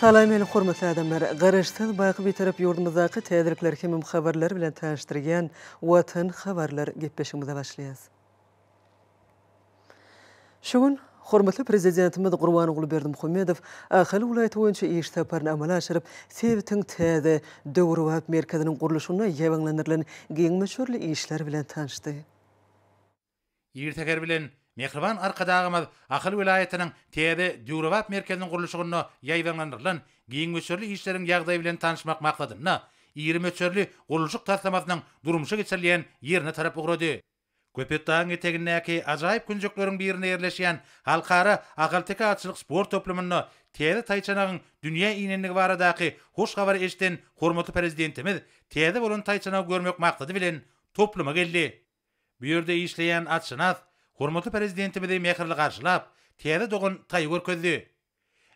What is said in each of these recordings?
Salam meni hormatly adamlar! Garaşsyz baky Bitarap ýurdumyzdaky täzelikler hemem habarlar bilen tanyşdyrýan Watan habarlar gepleşigimize başlaýas. Şu gün hormatly Prezidentimiz Gurbanguly Berdimuhamedow Ahal welaýaty boýunça iş saparyny amala aşyryp, sebitiň täze, döwrebap merkeziniň gurluşygyna ýabaňlandyrylan giň möçberli işler bilen tanyşdy. Ir säher bilen mähriban Arkadagymyz Ahal welaýatynyň täze döwrebap merkeziniň gurluşygynda ýaýbaňlandyrylan giň möçberli işleriň ýagdaýy bilen tanyşmak maksadynda, iri möçberli gurluşyk taslamasynyň durmuşa geçirilýän ýerine tarap ugrady. Köpetdagyň etegindäki ajaýyp künjekleriň birinde ýerleşýän Halkara ahalteke atçylyk sport toplumynda täze taýçanagyň dünýä inendigi baradaky hoş habary eşiden hormatly Prezidentimiz täze bolan taýçanagy görmek maksady bilen topluma geldi. Bu ýerde işleýän atşynas hormatly Prezidentimizi mähirli garşylap, täze dogan taý görkezdi.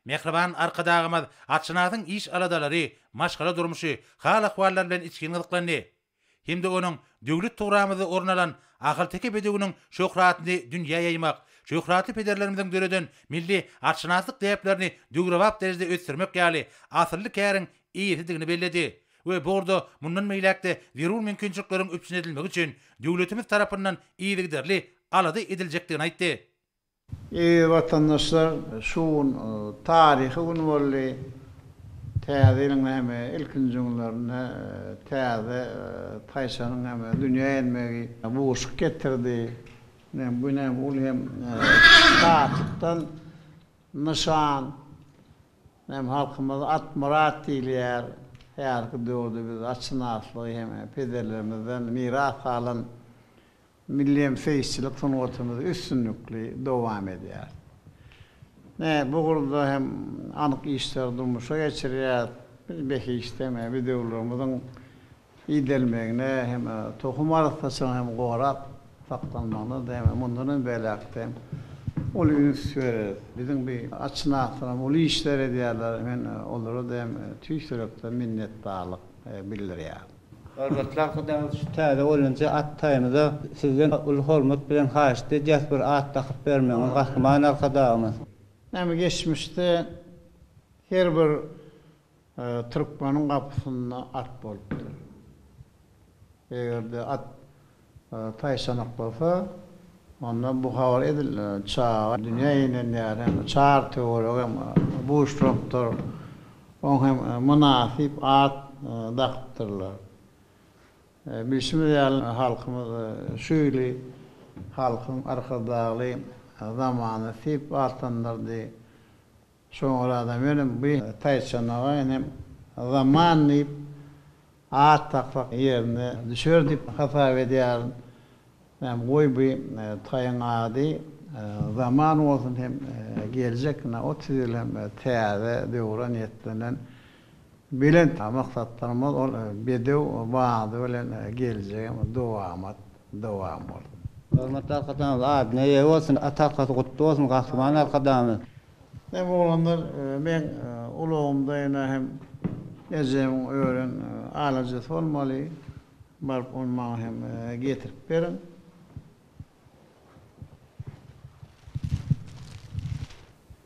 Mähriban Arkadagymyz atşynasyň iş-aladalary, maşgala durmuşy, hal-ahwallary bilen içgin gyzyklandy hem-de onuň döwlet tugramyzda orun alan ahalteke bedewiniň şöhratyny dünýä ýaýmak, şöhratly pederlerimiziň döreden milli atşynaslyk däplerini döwrebap derejede ösdürmek ýaly asylly käriň eýesidigini belledi. we bu ugurda mundan beýläk-de zerur mümkinçilikleriň üpjün edilmegi üçin döwletimiz tarapyndan yzygiderli alada ediljekdigini aýtdy. Eziz watandaşlar, şu gün taryhy gün boldy. Täze ýylyň näme, ilkinji günlerinde täze taýçanyň näme, dünýä gelmegi buşluk getirdi. Ine, bu näme, ol hem şatlykdan nyşan. Hem halkymyz Atmyrat diýilýär. Häzirki döwürde biz atşynaslygy hem pederlerimizden miras galan milli hem seýisçilik sungatymyzy üstünlikli dowam edýäris. Ne, bu ugurda hem anyk işleri durmuşa geçirýäris. Biz behişdem, bedewlerimiziň iýdirilmegine hem tohum arassaçylygynyň hem gorap saklanmagyna-da hem mundan hem beýläk-de hem uly üns bereris. Biziň bu atşynaslarym uly işler edýärler, men olara-da hem tüýs ýürekden minnetdarlyk bildirýärin. Hormatly arkadagymyz şu täze bolýança at taýymyza sizden uly hormat bilen haýyşt edýäris bir at dakyp bermegiňizi Gahryman Arkadagymyz. Näme geçmişde her bir Türkmeniň gapysynda at bolupdyr. Eger-de at taýçanak bolsa, onda bu habar edildi. Çaga dünýä inen ýeri hem çar töweregi hem buşlupdyr. Oňa hem mynasyp at dakypdyrlar. Bilşimiz ýaly, halkymyz şu ýyly halkyň Arkadagly zamany diýip atlandyrdy. Soňradan welin bu taýçanaga ine Zaman diýip at daksak ýerine düşer diýip hasap edýärin. Ýa goý bu taýyň ady Zaman bolsun hem geljek ine otuz ýyl hem täze döwre niýetlenen belent maksatlarymyz ol bedew bady bilen geljege dowamat dowam bolsun. Hormatly Arkadagymyz adyna eýe bolsun, at arkasy gutly bolsun Gahryman Arkadagymyz. Näme oglanlar, meň ulagymda ýene hem ejemiň ören alajysy bolmaly, baryp ony maňa hem getirip beriň.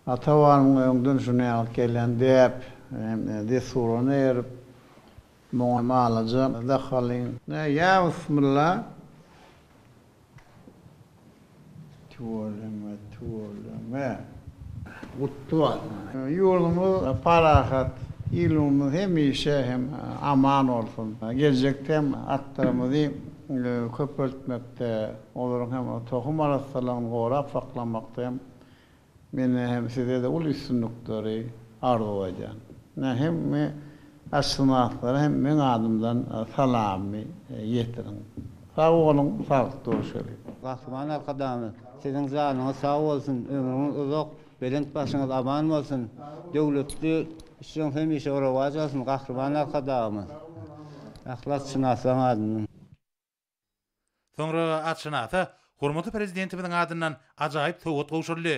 Ata-babanym öňden şu näwagt gelýän däp hem dessuraryna eýerip, Muňa malaja da halyň. Ýa bysmylla. Tüweleme tüweleme. Gutly bolsun. Ýurdumyz parahat, ilimiz hemişe hem aman bolsun. Geljekde hem atlarymyzy köpeltmekde, olaryň hem tohum arassalygyny gorap saklamakda hem Mende hem sizede uly üstünlikleri arzuw edyan. Ine hemme atşynaslara hem meň adymdan salammy ýetiriň. Sag boluň, saglyk görüşeliň. Gahryman Arkadagymyz siziň janyňyz sag bolsun, ömrüňiz uzak, belent başyňyz aman bolsun, döwletli işiň hemişe rowaç alsyn Gahryman Arkadagymyz, yhlassynaslaň adyndan. Soňra atşynasa hormatly Prezidentimiziň adyndan ajaýyp sowgat gowşuryldy.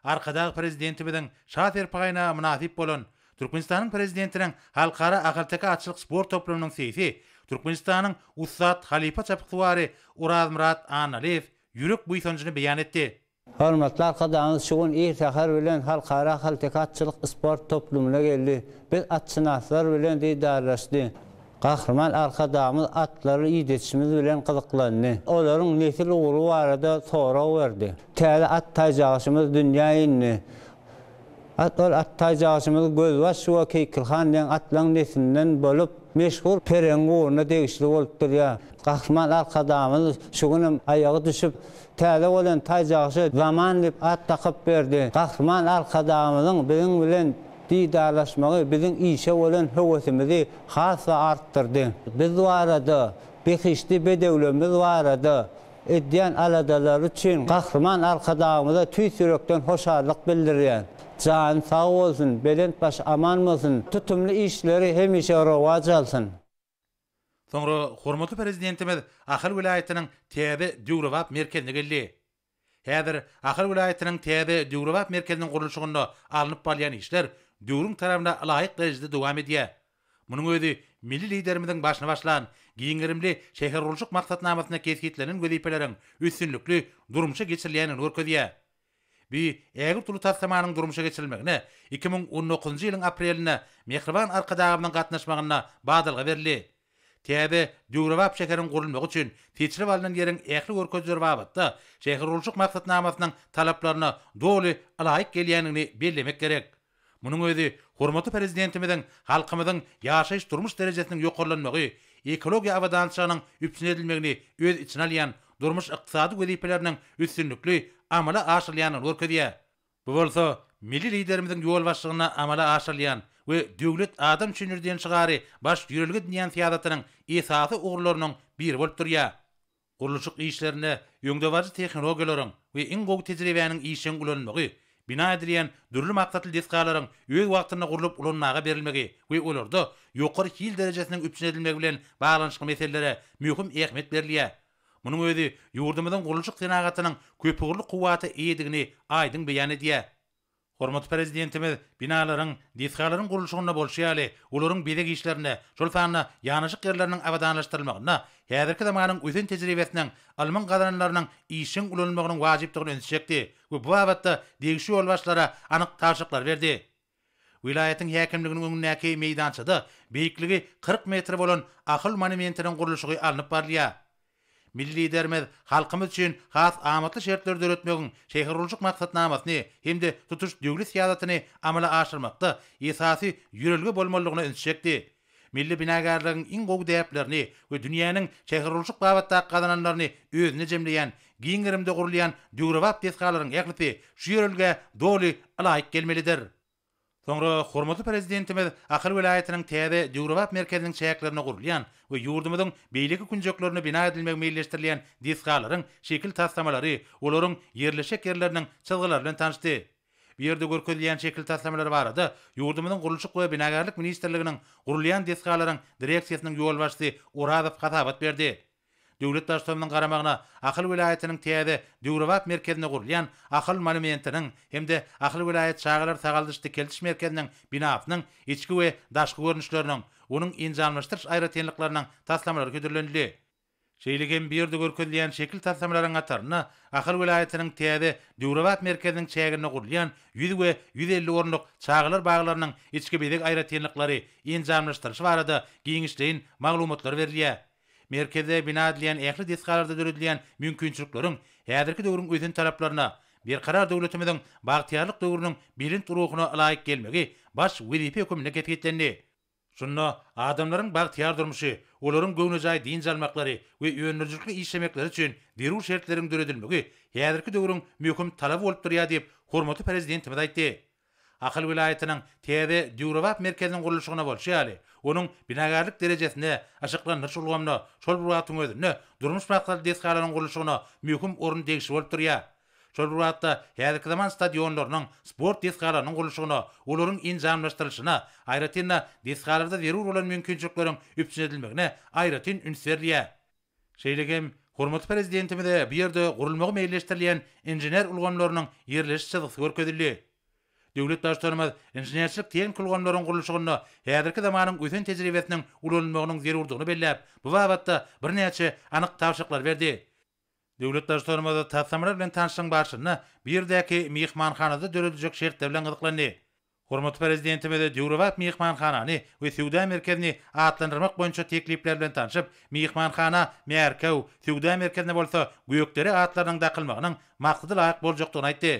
Arkadag Prezidentimiziň Şa serpaýyna mynasyp bolan Türkmenistanyň Prezidentiniň Halkara ahalteke atçylyk sport toplumynyň seýsi Türkmenistanyň ussat halypa çapyksuwary Orazmyrat Annalyýew ýürek buýsanjyny beýan etdi. Hormatly Arkadagymyz şu gün ir säher bilen Halkara ahalteke atçylyk sport toplumyna geldi. Biz atşynaslar bilen didarlaşdy. Gahryman Arkadagymyz atlary idetişimiz bilen gyzyklandy. Olaryň nesil ugry barada sorag berdi. Täze at taýjagaşymyz dünýä indi. Ol at taýjagçymyz Gözbaş we Keýkil han deň atlaryň neslinden bolup, meşhur Peregiň ugruna degişli bolup durýar. Gahryman Arkadagymyz şu günem aýaga düşüp, täze bolan taýjagça Zaman diýip at dakyp berdi. Gahryman Arkadagymyzyň biziň bilen didarlaşmagy biziň işe bolan höwesimizi has-da artdyrdy. Biz barada, behişdi bedewlerimiz barada Edýän aladalary üçin Gahryman Arkadagymyza tüýs ýürekden hoşallyk bildirýän. Jany sag bolsun, belent başy aman bolsun, tutumly işleri hemişe rowaç alsyn! Soňra hormatly Prezidentimiz Ahal welaýatynyň täze döwrebap merkezine geldi. Häzir Ahal welaýatynyň täze döwrebap merkeziniň gurluşygynda alnyp barylýan işler döwrüň talabyna laýyk derejede dowam edýär. Munuň özi milli Liderimiziň başyny başlan giň gerimli şähergurluşyk maksatnamasynda kesgitlenen wezipeleriň üstünlikli durmuşa geçirilýändigini görkezýär. Bu ägirt uly taslamanyň durmuşa geçirilmegine iki müň on dokuzynjy ýylyň aprelinde mähriban Arkadagymyzyň gatnaşmagynda badalga berildi. Täze, döwrebap şäheriň gurulmagy üçin seçilip alnan ýeriň ähli görkezileri babatda şähergurluşyk maksatnamasynyň talaplaryna doly ylaýyk gelýändigini bellemek gerek. Munuň özi hormatly Prezidentimiziň halkymyzyň ýaşaýyş-durmuş derejesiniň ýokarlanmagy, ekologiýa abadançylygynyň üpjün edilmegini öz içine alýan durmuş-ykdysady wezipeleriniň üstünlikli amala aşyrylýandygyny görkezýär. Bu bolsa Milli Liderimiziň ýolbaşçylygynda amala aşyrylýan we Döwlet adam üçindir diýen şygary baş ýörelge edinýän syýasatynyň esasy ugurlarynyň biri bolup durýar. Gurluşyk işlerinde öňdebaryjy tehnologiýalaryň we iň gowy tejribäniň işjeň ulanylmagy, bina edilýän dürli maksatly desgalaryň öz wagtynda gurlup ulanmaga berilmegi we olarda ýokary hil derejesiniň üpjün edilmegi bilen baglanyşykly meselelere möhüm ähmiýet berilýär. Munuň özi ýurdumyzyň gurluşyk senagatynyň köpugurly kuwwata eýedigini aýdyň beýan edýär. Hormatly Prezidentimiz binalaryň, desgalaryň gurluşygynda bolşy ýaly, olaryň bezeg işlerinde, şol sanda ýanaşyk ýerleriniň abadanlaşdyrylmagynda häzirki zamanyň ösen tejribesiniň, ylmyň gazananlarynyň işjeň ulanylmagynyň wajypdygyny ünsi çekdi we bu babatda degişli ýolbaşçylara anyk tabşyryklary berdi. Welaýatyň häkimliginiň öňündäki meýdançada beýikligi kyrk metr bolan Akyl monumentiniň gurluşygy alnyp barylýar. Milli Liderimiz halkymyz üçin has amatly şertleri döretmegiň şähergurluşyk maksatnamasyny hem-de tutuş döwlet syýasatyny amala aşyrmakda esasy ýörelge bolmalydygyna ünsi çekdi. Milli binagärligiň iň gowy däplerini we dünýäniň şähergurluşyk babatdaky gazananlaryny özünde jemleýän giň gerimde gurulýan döwrebap desgalaryň ählisi şu ýörelgä doly ylaýyk gelmelidir. Soňra hormatly Prezidentimiz Ahal welaýatynyň täze döwrebap merkeziniň çäklerinde gurulýan we ýurdumyzyň beýleki künjeklerinde bina edilmegi meýilleşdirilýän desgalaryň şekil taslamalary, olaryň ýerleşjek ýerleriniň çyzgylary bilen tanyşdy. Bu ýerde görkezilýän şekil taslamalary barada ýurdumyzyň Gurluşyk we binagärlik ministrliginiň gurulýan desgalaryň direksiýasynyň ýolbaşçysy Orazow hasabat berdi. Döwlet Baştutanymyzyň garamagyna Ahal welaýatynyň täze, döwrebap merkezinde gurulýan Ahal monumentiniň hem-de Ahal welaýat çagalar sagaldyş-dikeldiş merkeziniň binasynyň içki we daşky görnüşleriniň, onuň enjamlaşdyryş aýratynlyklarynyň taslamalary hödürlenildi. Şeýle hem bu ýerde görkezilýän şekil taslamalaryň hatarynda Ahal welaýatynyň täze, döwrebap merkeziniň çäginde gurulýan ýüz we ýüz elli orunlyk çagalar baglarynyň içki bezeg aýratynlyklary, enjamlaşdyryşy barada giňişleýin maglumatlar berilýär. Merkezde bina edilen ähli desgalarda döredilen mümkinçilikleriň häzirki döwrüň ösen talaplaryna, Berkarar döwletimiziň bagtyýarlyk döwrüniň belent ruhuna ylaýyk gelmegi baş wezipe hökmünde kesgitlendi. Şunda adamlaryň bagtyýar durmuşy, olaryň göwnejaý dynç almaklary we öndürijilikli işlemekleri üçin zerur şertleriň döredilmegi häzirki döwrüň möhüm talaby bolup durýar diýip, hormatly Prezidentimiz aýtdy. Ahal welaýatynyň täze döwrebap merkeziniň gurluşygyna bolşy ýaly, onuň binagärlik derejesine, yşyklandyryş ulgamyna, şol bir wagtyň özünde durmuş maksatly desgalaryň gurluşygyna möhüm orun degişli bolup durýar. Şol bir wagtda, häzirki zaman stadionlarynyň, sport desgalarynyň gurluşygyna, olaryň enjamlaşdyrylyşyna, aýratyn-da, desgalarda zerur bolan mümkinçilikleriň üpjün edilmegine aýratyn üns berilýär. Şeýle hem, hormatly Prezidentimize bu ýerde gurulmagy meýilleşdirilýän inžener ulgamlarynyň ýerleşiş çyzgysy görkezildi. Döwlet Baştutanymyz inženerçilik-tehniki ulgamlaryň gurluşygynda häzirki zamanyň ösen tejribesiniň ulanylmagynyň zerurdygyny belläp, bu babatda birnäçe anyk tabşyryklary berdi. Döwlet Baştutanymyz taslamalar bilen tanyşlygyň barşynda bu ýerdäki myhmanhanada dörediljek şertler bilen gyzyklandy. Hormatly Prezidentimize döwrebap myhmanhanany we söwda merkezini atlandyrmak boýunça teklipler bilen tanşyp, myhmanhana Märkew, söwda merkezine bolsa Gökdere atlarynyň dakylmagynyň maksada-laýyk boljakdygyny aýtdy.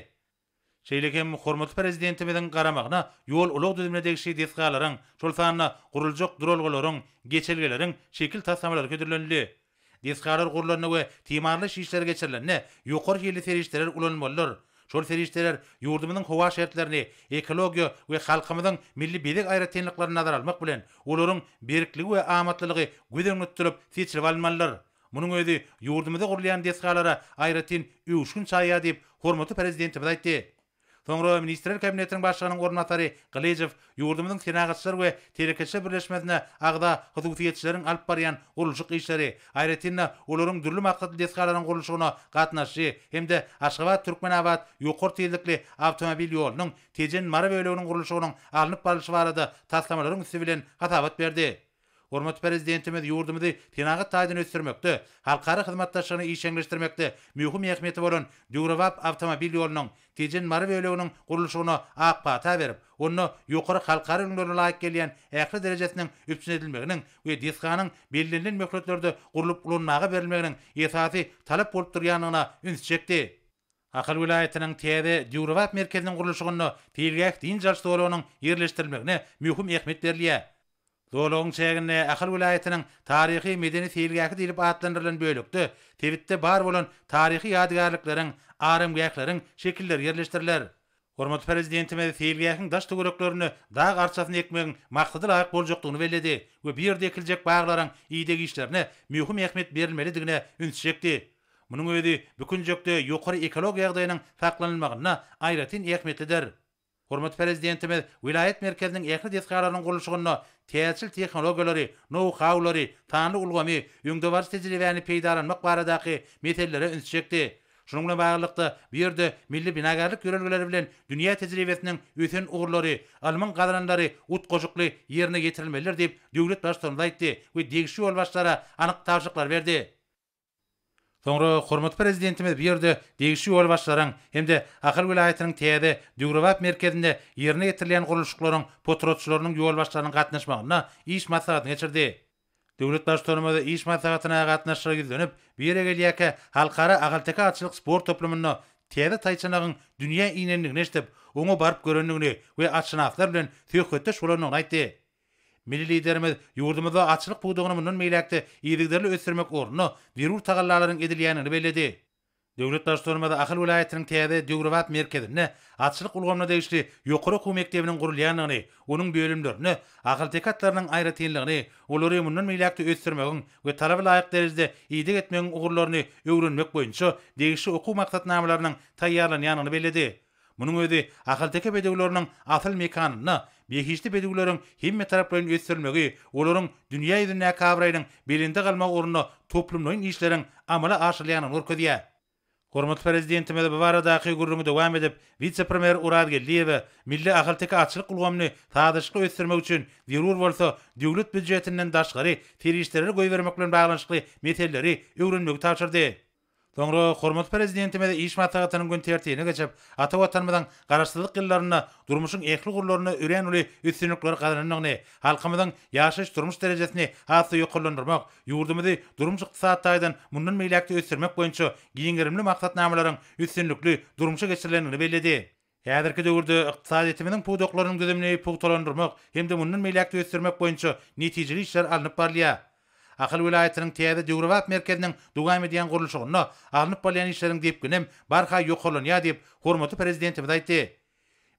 Şeýle hem hormatly Prezidentimiziň garamagyna ýol-ulag düzümine degişli desgalaryň, şol sanda guruljak duralgalaryň, geçelgeleriň şekil taslamalary hödürlenildi. Desgalar gurlanda we timarlaýyş işleri geçirilende ýokary hilli serişdeler ulanylmalydyr. Şol serişdeler ýurdumyzyň howa şertlerini, ekologiýa we halkymyzyň milli bezeg aýratynlyklaryny nazara almak bilen, olaryň berkligi we amatlylygy göz öňünde tutulyp seçilip alynmalydyr. Munuň özi ýurdumyzda gurulýan desgalara aýratyn öwüşgin çaýýar diýip, hormatly Prezidentimiz aýtdy. Soňra Ministrler Kabinetiniň Başlygynyň orunbasary Gylyjow ýurdumyzyň Senagatçylar we telekeçiler birleşmesine agza hususyýetçileriň alyp barýan gurluşyk işleri, aýratyn-da, olaryň dürli maksatly desgalaryň gurluşygyna gatnaşyjy hem-de Aşgabat-Türkmenabat ýokary tizlikli awtomobil ýolunyň Tejen-Mary böleginiň gurluşygynyň alnyp barlyşy barada taslamalaryň üsti bilen hasabat berdi. Hormatly Prezidentimiz ýurdumyzy senagat taýdan ösdürmekde, halkara hyzmatdaşlygyny işjeňleşdirmekde möhüm ähmiýeti bolan döwrebap awtomobil ýolunyň Tejen-Mary böleginiň gurluşygyna ak pata berip, onda ýokary halkara ülňülerine laýyk gelýän ähli derejesiniň üpjün edilmeginiň we desganyň bellenilen möhletlerde gurlup ulanmaga berilmeginiň esasy talap bolup durýandygyna üns çekdi. Ahal welaýatynyň täze döwrebap merkeziniň gurluşygynda seýilgäh dynç alyş zolagynyň ýerleşdirilmegine möhüm ähmiýet berilýär. Zolagyň çäginde Ahal welaýatynyň taryhy-medeni seýilgähi diýlip atlandyrylan bölekde sebitde bar bolan taryhy ýadygärlikleriň, aramgähleriň şekilleri ýerleşdiriler. Hormatly Prezidentimiz seýilgähiň daş-töwereklerine dag arçasyny ekmegiň maksadalaýyk boljakdygyny belledi we bu ýerde ekiljek baglaryň ideg işlerine möhüm ähmiýet berilmelidigine üns çekdi. Munuň özi bu künjekde ýokary ekologiýa ýagdaýynyň saklanylmagynda aýratyn ähmiýetlidir. Hormatly Prezidentimiz welaýat merkeziniň ähli desgalarynyň gurluşygynda täjirçilik tehnologiýalary, nou-haulary, sanly ulgamy, öňdebaryjy tejribäni peýdalanmak baradaky meselelere üns çekdi Şunuň bilen baglylykda, bu ýerde milli binagärlik ýörelgeleri bilen dünýä tejribesiniň ösen ugurlary, ylmyň gazananlary utgaşykly ýerine ýetirilmelidir diýip, döwlet Baştutanymyz aýtdy we degişli ýolbaşçylara anyk tabşyryklary berdi. Soňra hormatly Prezidentimiz bu ýerde degişli ýolbaşçylaryň hem-de Ahal welaýatynyň täze döwrebap merkezinde ýerine ýetirilýän gurluşyklaryň potratçylarynyň ýolbaşçylarynyň gatnaşmagynda iş maslahatyny geçirdi. Döwlet Baştutanymyz iş maslahatyna gatnaşyjylara ýüzlenip, bu ýere gelýärkä Halkara ahalteke atçylyk sport toplumynda täze taýçanagyň dünýä inendigini eşidip, oňa baryp görendigini we atşynaslar bilen söhbetdeş bolandygyny aýtdy. Milli Liderimiz ýurdumyzda atçylyk pudagyny mundan beýläk-de yzygiderli ösdürmek ugrunda zerur tagallalaryň edilýändigini belledi. Döwlet Baştutanymyz Ahal welaýatynyň täze döwrebap merkezinde atçylyk ulgamyna degişli ýokary okuw mekdebiniň gurulýandygyny, onuň bölümlerinde ahalteke atlarynyň aýratynlygyny, olary mundan beýläk-de ösdürmegiň we talaba laýyk derejede ideg etmegiň ugurlaryny öwrenmek boýunça degişli okuw maksatnamalarynyň taýýarlanýandygyny belledi. Munuň özi ahalteke bedewleriniň asyl mekanynda behişdi bedewleriň hemmetaraplaýyn ösdürilmegi, olaryň dünýä ýüzündäki abraýynyň belende galmagy ugrunda toplumlaýyn işleriň amala aşyrylýandygyny görkezýär. Hormatly Prezidentimiz bu baradaky gürrüňi dowam edip, wise-premýer Orazgeldiýewe milli ahalteke atçylyk ulgamyny sazlaşykly ösdürmek üçin zerur bolsa döwlet býujetinden daşgary serişdeleri goýbermek bilen baglanyşykly meseleleri öwrenmegi tabşyrdy. Soňra hormatly Prezidentimiz iş maslahatynyň gün tertibine geçip, ata Watanymyzyň Garaşsyzlyk ýyllarynda durmuşyň ähli ugurlarynda örän uly üstünlikleri gazanandygyny, halkymyzyň ýaşaýyş-durmuş derejesini has-da ýokarlandyrmak, ýurdumyzy durmuş-ykdysady taýdan mundan beýläk-de ösdürmek boýunça giň gerimli maksatnamalaryň üstünlikli durmuşa geçirilendigini belledi. Häzirki döwürde ykdysadyýetimiziň pudaklarynyň düzümini pugtalandyrmak hem-de mundan beýläk-de ösdürmek boýunça netijeli işler alnyp barylýar. Ahal welaýatynyň täze döwrebap merkeziniň dowam edýän gurluşygynda alnyp barylýan işleriň depgininem barha ýokarlanýar diýip, hormatly Prezidentimiz aýtdy.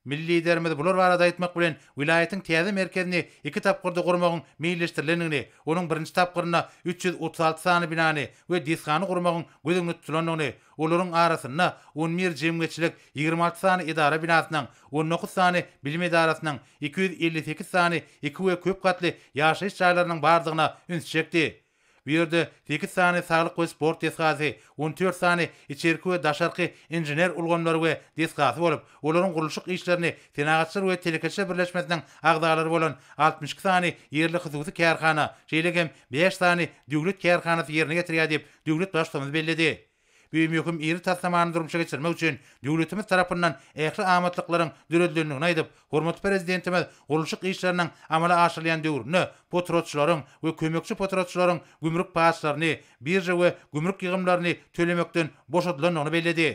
Milli Liderimiz bular barada aýtmak bilen, welaýatyň täze merkezini iki tapgyrda gurmagyň meýilleşdirilendigini, onuň birinji tapgyrynda üç ýüz otuz alty sany binany we desgany gurmagyň göz öňünde tutulandygyny, Olaryň arasynda on bir jemgyýetçilik, ýigrimi alty sany edara binasynyň, on dokuz sany bilim edarasynyň, iki ýüz elli sekiz sany iki we köp gatly ýaşaýyş jaýlarynyň bardygyna üns çekdi. Bu ýerde sekiz sany saglyk we sport desgasy, on dört sany içerki we daşarky inžener ulgamlary we desgasy bolup, olaryň gurluşyk işlerini Senagatçylar we telekeçiler birleşmesiniň agzalary bolan altmyş iki sany ýerli hususy kärhana, şeýle hem bäş sany döwlet kärhanasy ýerine getirýär diýip, döwlet Baştutanymyz belledi. Bu möhüm iri taslamany durmuşa geçirmek üçin döwletimiz tarapyndan ähli amatlyklaryň döredilendigini aýdyp, hormatly Prezidentimiz gurluşyk işleriniň amala aşyrylýan döwründe potratçylaryň we kömekçi potratçylaryň gümrük paçlaryny, birža we gümrük ýygymlaryny tölemekden boşadylandygyny belledi.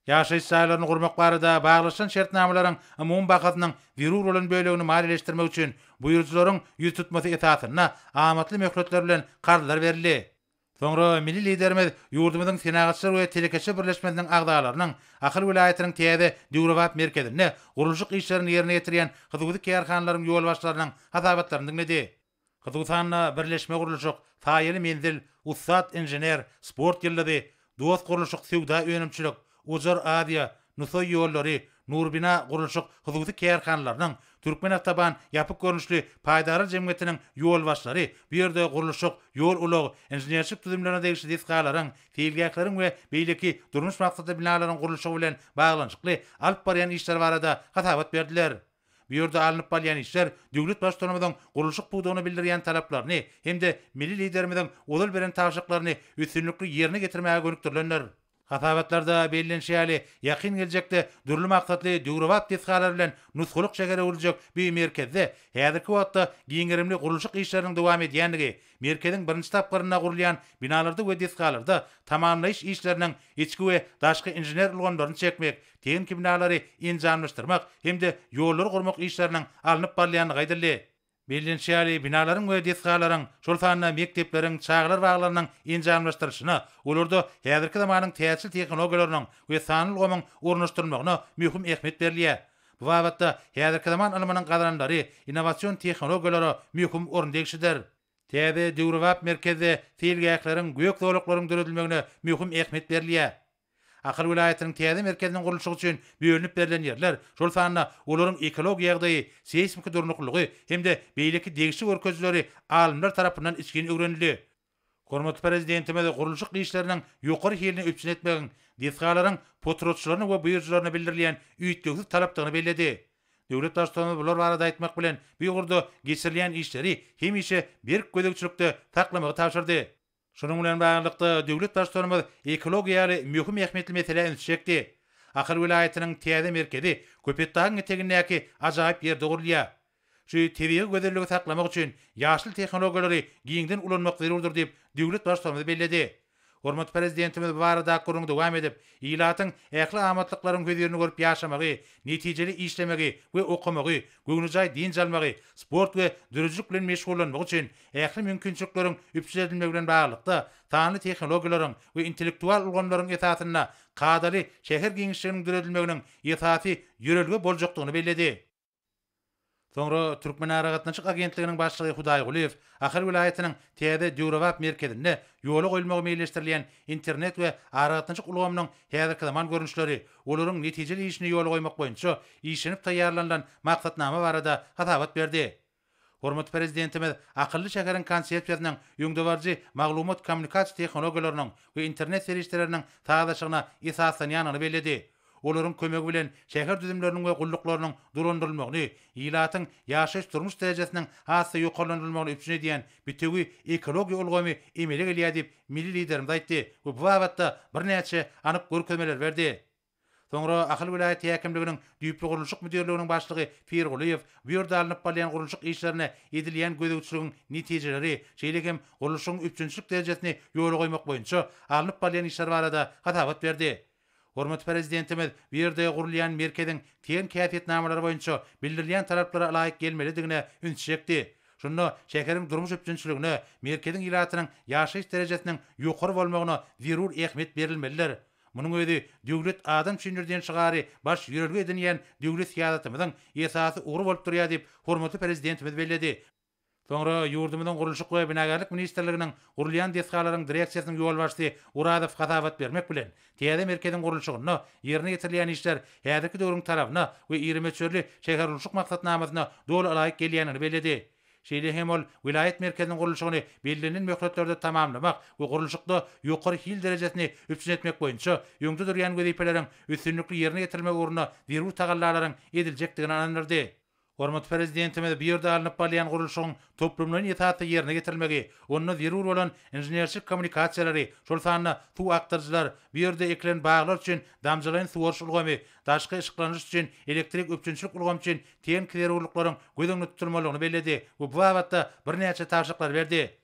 Ýaşaýyş jaýlaryny gurmak barada baglaşylan şertnamalaryň umumy bahasynyň zerur bolan bölegini maliýeleşdirmek üçin buýrujylaryň ýüztutmasy esasynda amatly möhletler bilen karzlar berildi. Soňra milli Liderimiz ýurdumyzyň Senagatçylar we telekeçiler birleşmesiniň agzalarynyň Ahal welaýatynyň täze döwrebap merkezinde gurluşyk işlerini ýerine ýetirýän hususy kärhanalaryň ýolbaşçylarynyň hasabatlaryny diňledi. Hususan-da, birleşme gurluşyk, Saýaly menzil, Ussat inžener, Sport ýyldyzy, Dost gurluşyk söwda-önümçilik, Ujar Aziýa, Nusaý ýollary, Nurbina gurluşyk hususy kärhanalarynyň, Türkmenawtoban ýapyk görnüşli paýdarlar jemgyýetiniň ýolbaşçylary bu ýerde gurluşyk, ýol-ulag, inženerçilik düzümlerine degişli desgalaryň, seýilgähleriň we beýleki durmuş maksatly binalaryň gurluşygy bilen baglanyşykly alyp barýan işleri barada hasabat berdiler. Bu ýerde alnyp balýan işler döwlet Baştutanymyzyň gurluşyk pudagyna bildirýän talaplaryny hem-de milli Liderimiziň ozal beren tabşyryklaryny üstünlikli ýerine getirmäge gönükdirilendir. Hasabatlarda bellenişi ýaly, ýakyn geljekde dürli maksatly döwrebap desgalar bilen nusgalyk şähere öwrüljek bu merkezde häzirki wagtda giň gerimli gurluşyk işleriniň dowam edýändigi, merkeziň birinji tapgyrynda gurulýan binalarda we desgalarda tamamlaýyş işleriniň içki we daşky inžener ulgamlaryny çekmek, tehniki binalary enjamlaşdyrmak hem-de ýollary gurmak işleriniň alnyp barylýandygy aýdyldy. Bellenişi ýaly, binalaryň we desgalaryň, şol sanda mekdepleriň, çagalar baglarynyň enjamlaşdyrylyşyna, olarda häzirki zamanyň täjirçilik tehnologiýalarynyň we sanly ulgamyň ornaşdyrylmagyna möhüm ähmiýet berilýär. Bu babatda häzirki zaman ylmynyň gazananlary, innowasion tehnologiýalara möhüm orun degişlidir. Täze, döwrebap merkezde seýilgähleriň, gök zolaklaryň döredilmegine möhüm ähmiýet berilýär. Ahal welaýatynyň täze merkeziniň gurluşygy üçin bölünip berlen ýerler, şol sanda olaryň ekologiýa ýagdaýy, seýsmiki durnuklylygy hem-de beýleki degişli görkezijileri alymlar tarapyndan içgin öwrenildi. Hormatly Prezidentimiz gurluşyk işleriniň ýokary hilini üpjün etmegiň desgalaryň potratçylaryna we buýrujylaryna bildirilýän üýtgewsiz talapdygyny belledi. Döwlet Baştutanymyz bular barada aýtmak bilen, bu ugurda geçirilýän işleri hemişe berk gözegçilikde saklamagy tabşyrdy. Şunuň bilen baglylykda, döwlet Baştutanymyz ekologiýa ýaly möhüm ähmiýetli meselä üns çekdi. Ahal welaýatynyň täze merkezi Köpetdagyň etegindäki ajaýyp ýerde gurulýar. Şu tebigy gözelligi saklamak üçin ýaşyl tehnologiýalary giňden ulanmak zerurdyr diýip, döwlet Baştutanymyz belledi. Hormatly Prezidentimiz bu barada gürrüňi dowam edip, ilatyň ähli amatlyklaryň hözirini görüp ýaşamagy, netijeli işlemegi we okamagy, göwnejaý dynç almagy, sport we döredijilik bilen meşgullanmagy üçin Ähli mümkinçilikleriň üpjün edilmegi bilen baglylykda, sanly tehnologiýalaryň we intellektual ulgamlaryň esasynda kadaly şäher giňişliginiň döredilmeginiň esasy ýörelge boljakdygyny belledi. Soňra Türkmenaragatnaşyk agentliginiň başlygy Hudaý Gulyýew Ahal welaýatynyň täze döwrebap merkezinde ýola goýulmagy meýilleşdirilýän internet we aragatnaşyk ulgamynyň häzirki zaman görnüşleri, olaryň netijeli işini ýola goýmak boýunça işlenip taýýarlanylan maksatnama barada hasabat berdi. Hormatly Prezidentimiz akylly şäheriň konsepsiýasynyň öňdebaryjy maglumat-kommunikasiýa tehnologiýalarynyň we internet serişdeleriniň sazlaşygyna esaslanýandygyny belledi. Olaryň kömegi bilen şäher düzümleriniň we gulluklarynyň dolandyrylmagyny, ilatyň ýaşaýyş-durmuş derejesiniň has-da ýokarlandyrylmagyny üpjün edýän bitewi ekologiýa ulgamy emele gelýär diýip, milli Liderimiz aýtdy we bu babatda birnäçe anyk görkezmeleri berdi. Soňra Ahal welaýat häkimliginiň düýpli gurluşyk müdirliginiň başlygy Pirgulyýew bu ýerde alnyp barylýan gurluşyk işlerine edilýän gözegçiligiň netijeleri, şeýle hem gurluşygyň üpjünçilik derejesini ýola goýmak boýunça alnyp barylýan işler barada hasabat berdi. Hormatly Prezidentimiz bu ýerde gurulýan merkeziň TEN häsiýetnamalary boýunça bildirilýän talaplara laýyk gelmelidigine üns çekdi. Şunda şäheriň durmuş üpjünçiligine, merkeziň ilatynyň ýaşaýyş derejesiniň ýokary bolmagyna zerur ähmiýet berilmelidir. Munuň özi Döwlet adam üçindir diýen şygary baş ýörelge edinýän döwlet syýasatymyzyň esasy ugry bolup durýar diýip, hormatly Prezidentimiz belledi. Soňra ýurdumyzyň Gurluşyk we binagärlik ministrliginiň gurulýan desgalaryň direksiýasynyň ýolbaşçysy Urazow hasabat bermek bilen, täze merkeziň gurluşygynda ýerine ýetirilýän işler häzirki döwrüň talabyna we iri möçberli şähergurluşyk maksatnamasyna doly laýyk gelýändigini belledi. Şeýle hem ol welaýat merkeziniň gurluşygyny bellenilen möhletlerde tamamlamak we gurluşykda ýokary hil derejesini üpjün etmek boýunça öňde durýan wezipeleriň üstünlikli ýerine ýetirilmegi ugrunda zerur tagallalaryň ediljekdigine ynandyrdy. Hormatly Prezidentimiz bu ýerde alnyp barylýan gurluşygyň toplumlaýyn esasda ýerine ýetirilmegi, onda zerur bolan inženerçilik kommunikasiýalary, şol sanda suw akdyryjylar, bu ýerde ekilen baglar üçin damjalaýyn suwaryş ulgamy, daşky yşyklandyryş üçin elektrik üpjünçilik ulgamy üçin tehniki zerurlyklaryň göz öňünde tutulmalydygyny belledi we bu babatda birnäçe tabşyryklary berdi.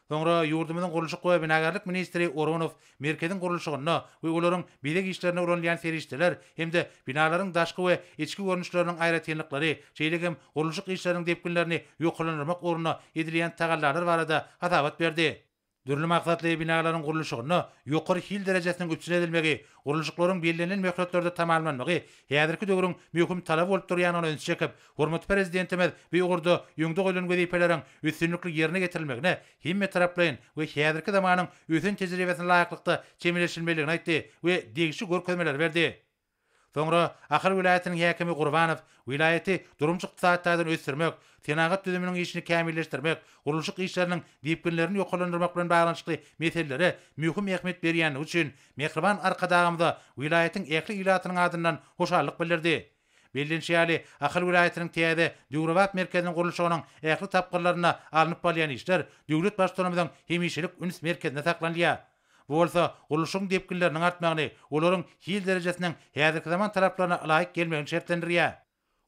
Soňra ýurdumyzyň gurluşyk we binagärlik ministri Oronow merkeziň gurluşygynda we olaryň bezeg işlerinde ulanylýan serişdeler hem-de binalaryň daşky we içki görnüşleriniň aýratynlyklary, şeýle hem gurluşyk işleriniň depginlerini ýokarlandyrmak ugrunda edilýän tagallalar barada hasabat berdi. Dürli maksatly binalaryň gurluşygynda ýokary hil derejesiniň üpjün edilmegi, gurluşyklaryň bellenilen möhletlerde tamamlanmagy häzirki döwrüň möhüm talaby bolup durýandygyna ünsi çekip, hormatly Prezidentimiz bu ugurda öňde goýlan wezipeleriň üstünlikli ýerine getirilmegine hemmetaraplaýyn we häzirki zamanyň ösen tejribesine laýyklykda çemeleşilmelidigini aýtdy we degişli görkezmeleri berdi. Soňra Ahal welaýatynyň häkimi Gurbanow welaýaty durmuş-ykdysady taýdan ösdürmek, senagat düzüminiň işini kämilleşdirmek, gurluşyk işleriniň depginlerini ýokarlandyrmak bilen baglanyşykly meselelere möhüm ähmiýet berýändigi üçin mähriban Arkadagymyza welaýatyň ähli ilatynyň adyndan hoşallyk bildirdi. Bellenişi ýaly, Ahal welaýatynyň täze, döwrebap merkeziniň gurluşygynyň ähli tapgyrlarynda alnyp barylýan işler döwlet Baştutanymyzyň hemişelik üns merkezinde saklanylýar. Bu bolsa gurluşygyň depginleriniň artmagyny, olaryň hil derejesiniň häzirki zaman talaplaryna ylaýyk gelmegini şertlendirýär.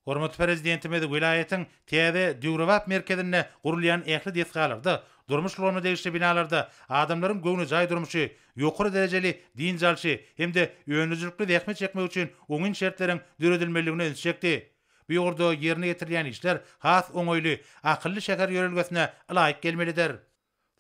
Hormatly Prezidentimiz welaýatyň täze döwrebap merkezinde gurulýan ähli desgalarda, durmuş ulgamyna degişli binalarda adamlaryň göwnejaý durmuşy, ýokary derejeli dynç alşy hem-de öndürijilikli zähmet çekmegi üçin oňyn şertleriň döredilmelidigine ünsi çekdi. Bu ýurda ýerine ýetirilýän işler has oňaýly, akylly şäher ýörelgesine ylaýyk gelmelidir.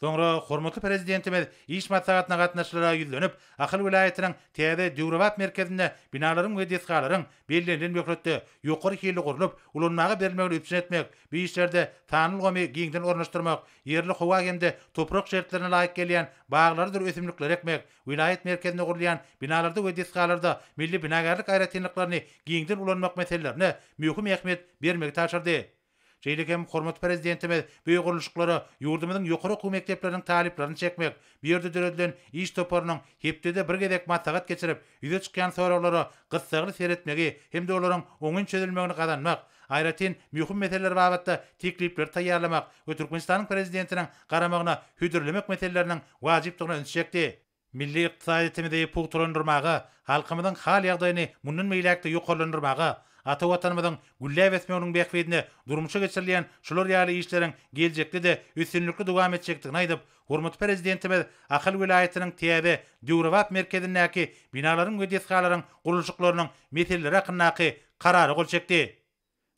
Soňra hormatly Prezidentimiz iş maslahatyna gatnaşyjylara ýüzlenip, Ahal welaýatynyň täze döwrebap merkezinde binalaryň we desgalaryň bellenilen möhletde ýokary hilli gurlup, ulanmaga berilmegini üpjün etmek, bu işlerde sanly ulgamy giňden ornaşdyrmak, ýerli howa hem-de toprak şertlerine laýyk gelýän baglarydyr ösümlikleri ekmek, welaýat merkezinde gurulýan binalarda we desgalarda milli binagärlik aýratynlyklaryny giňden ulanmak meselelerine möhüm ähmiýet bermegi tabşyrdy. Şeýle hem hormatly Prezidentimiz bu gurluşyklara ýurdumyzyň ýokary okuw mekdepleriniň talyplaryny çekmek, bu ýerde döredilen iş toparynyň hepdede bir gezek maslahat geçirip, ýüze çykýan soraglara gyssagly seretmegi hem-de olaryň oňyn çözülmegini gazanmak, aýratyn möhüm meseleler babatda teklipleri taýýarlamak we Türkmenistanyň Prezidentiniň garamagyna hödürlemek meseleleriniň wajypdygyna ünsi çekdi. Milli ykdysadyýetimizi pugtalandyrmaga, halkymyzyň hal-ýagdaýyny mundan beýläk-de ýokarlandyrmaga, ata Watanymyzyň gülläp ösmeginiň bähbidine durmuşa geçirilýän şular ýaly işleriň geljekde-de üstünlikli dowam etjekdigini aýdyp, hormatly Prezidentimiz Ahal welaýatynyň täze, döwrebap merkezindäki binalaryň we desgalaryň gurluşyklarynyň meseleleri hakyndaky Karara gol çekdi.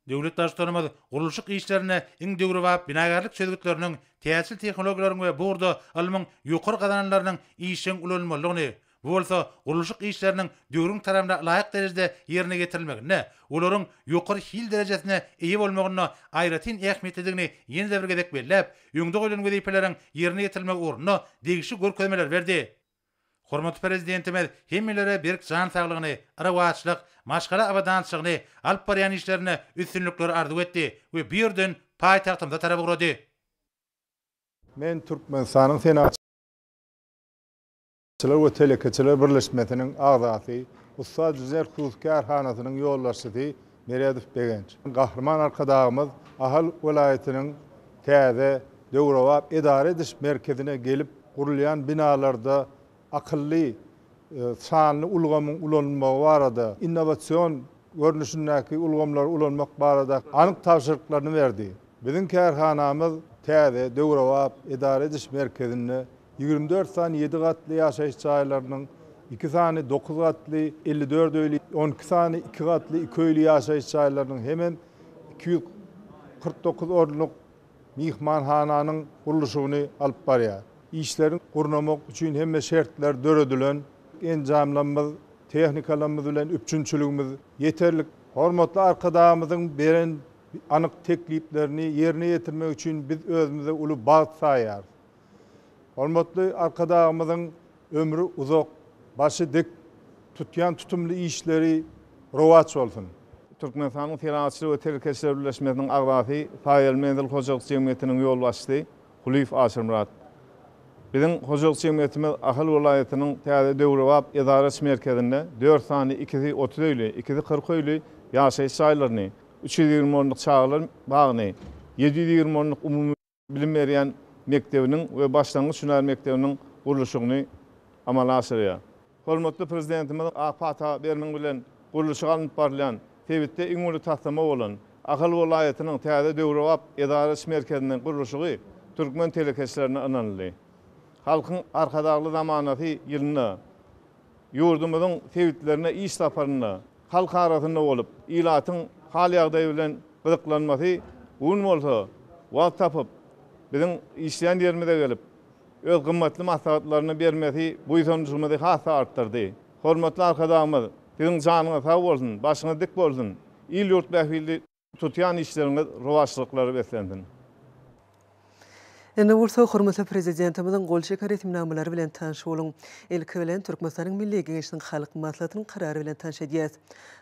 Döwlet Baştutanymyz gurluşyk işlerinde iň döwrebap binagärlik çözgütleriniň, täjir tehnologiýalaryň we bu ugurda ylmyň ýokary gazananlarynyň işjeň ulanylmalydygyny, bu bolsa gurluşyk işleriniň döwrüň talabyna laýyk derejede ýerine getirilmeginde, olaryň ýokary hil derejesine eýe bolmagynda aýratyn ähmiýetlidigini ýene-de bir gezek belläp, öňde goýlan wezipeleriň ýerine getirilmegi ugrunda degişli görkezmeleri berdi. Hormatly Prezidentimiz hemmelere berk jan saglygyny, rowaçlyk, maşgala abadançylygyny, alyp barýan işlerinde üstünlikleri arzuw etdi we bu ýerden paýtagtymyza tarap ugrady. Men Türkmenistanyň Senagatçylar we telekeçiler birleşmesiniň agzasy, Ussat Zerhus kärhanasynyň ýolbaşçysy Meredow Begenç. Gahryman Arkadagymyz Ahal welaýatynyň täze, döwrebap edara ediş merkezine gelip, gurulýan binalarda akylly sanly ulgamyň ulanylmagy barada, innowasion görnüşindäki ulgamlary ulanmak barada anyk tabşyryklaryny berdi. Biziň kärhanamyz täze, döwrebap edara ediş merkezinde ýigrimi dört sany ýedi gatly ýaşaýyş jaýlarynyň, iki sany dokuz gatly, elli dört öýli, on iki sany iki gatly iki öýli ýaşaýyş jaýlarynyň hemem iki ýüz kyrk dokuz orunlyk myhmanhananyň gurluşygyny alyp barýar. Işleri gurnamak üçin hemme şertler döredilen. Enjamlarymyz, tehnikalarymyz bilen üpjünçiligimiz ýeterlik. Hormatly Arkadagymyzyň beren Anyk tekliplerini ýerine ýetirmek üçin biz özümize uly bagt saýýarys. Hormatly Arkadagymyzyň ömri uzak, başy dik, tutýan tutumly işleri rowaç bolsun! Türkmenistanyň Senagatçylar we telekeçiler birleşmesiniň agzasy, Saýaly menzil hojalyk jemgyýetiniň ýolbaşçysy Kulyýew Aşyrmyrat. Biziň hojalyk jemgyýetimiz Ahal welaýatynyň täze döwrebap edara-iş merkezinde dört sany ikisi otuz öýli, ikisi kyrk öýli ýaşaýyş jaýlaryny, Üç ýüz ýigrimi orunlyk çagalar bagyny, ýedi ýüz ýigrimi orunlyk umumy bilim berýän mekdebiniň we başlangyç hünär mekdebiniň gurluşygyny amala aşyrýar. Hormatly Prezidentimiziň ak pata bermegi bilen gurluşygy alnyp barylýan sebitde iň uly taslama bolan Ahal welaýatynyň täze döwrebap edara iş merkeziniň gurluşygy türkmen telekeçilerine ynanyldy. Halkyň Arkadagly zamanasy ýylynda ýurdumyzyň sebitlerine iş saparynda Halk arasynda bolup, ilatyň hal-ýagdaýy bilen gyzyklanmasy gün bolsa, wagt tapyp, biziň işleýän ýerimize gelip, öz gymmatly maslahatlaryny bermesi buýsanjymyzy has-da artdyrdy. Hormatly Arkadagymyz, Siziň janyňyz sag bolsun, başyňyz dik bolsun, il-ýurt bähbitli! Tutýan işleriňiz rowaçlyklara beslensin. Indi bolsa hormatly Prezidentimiziň gol çeken resminamalary bilen tanyş boluň. Ilki bilen Türkmenistanyň Milli Geňeşiniň Halk Maslahatynyň Karary bilen tanyş edýäs.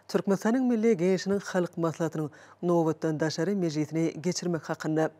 Türkmenistanyň Milli Geňeşiniň Halk Maslahatynyň nobatdan daşary mejlisini geçirmek hakynda.